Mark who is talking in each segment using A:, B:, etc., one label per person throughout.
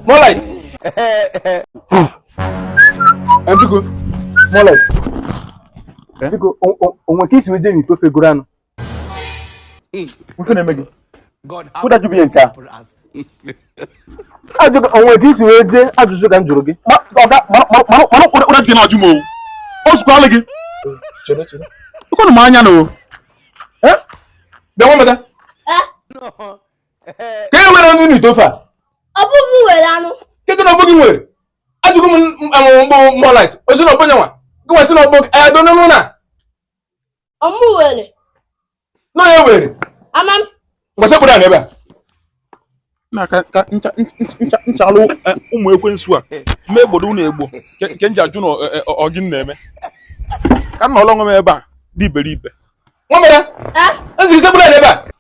A: Moonlight. Biko, Moonlight. Biko, o nwe ka i si wee jee n'ite ofe guru anụ. Ife na-eme gị. kedụ ajụjụ bụ nke a ajụjụ o nwe ka i si wee jee ajụjụ ka m jụrụ gị mara ụra gị na-ajụ m owu o zukwala gị ekwenụ m anya na o bịa nweta ka e were anụ n'ite ofe a ọ bụ gị
B: were anụ kedụ na ọ bụ gị
A: were ajụgo m Moonlight ọ sị na ọ bụ yanwa gịnwa sị na ọ bụghị I don't know na ọ
B: mụ were na ọ
A: ya were ama
B: m ngwa sekpuru
A: n'ebe
C: a na ka ka ncha ncha- ncha nchalụ eh, ụmụ ekwensu a ma egbodo unu egbo nke nke m ji ajụ na ọ- eh, ọ- ọ gịnị na-eme ka m nọrọ onwe m ebe a ụdị iberibe nwa mere
A: eh m sị gị sekpuru n'ebe a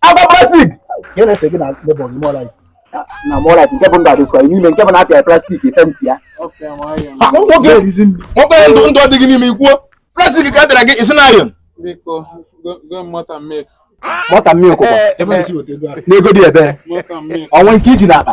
A: agwa plastik ka na-ese gị
D: na neighbour gị Moonlight na Moonlight
A: nke bụ ndụ adịskwa n'ime nke bụ na a pịa plastik ife ntị ya
D: nwoke
A: ndụ ndụ adịghị n'ime ikwuo plastik ka a pịara gị isi na
C: ayọn mọta mmiri ụkụkọ
A: n'ego dị ebee o nwe nke i ji n'akpa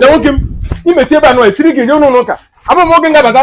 A: nwoke m i mechie ebe a nọ echi ị ga-eje ụlọ ụka abụ m oge m ga-abata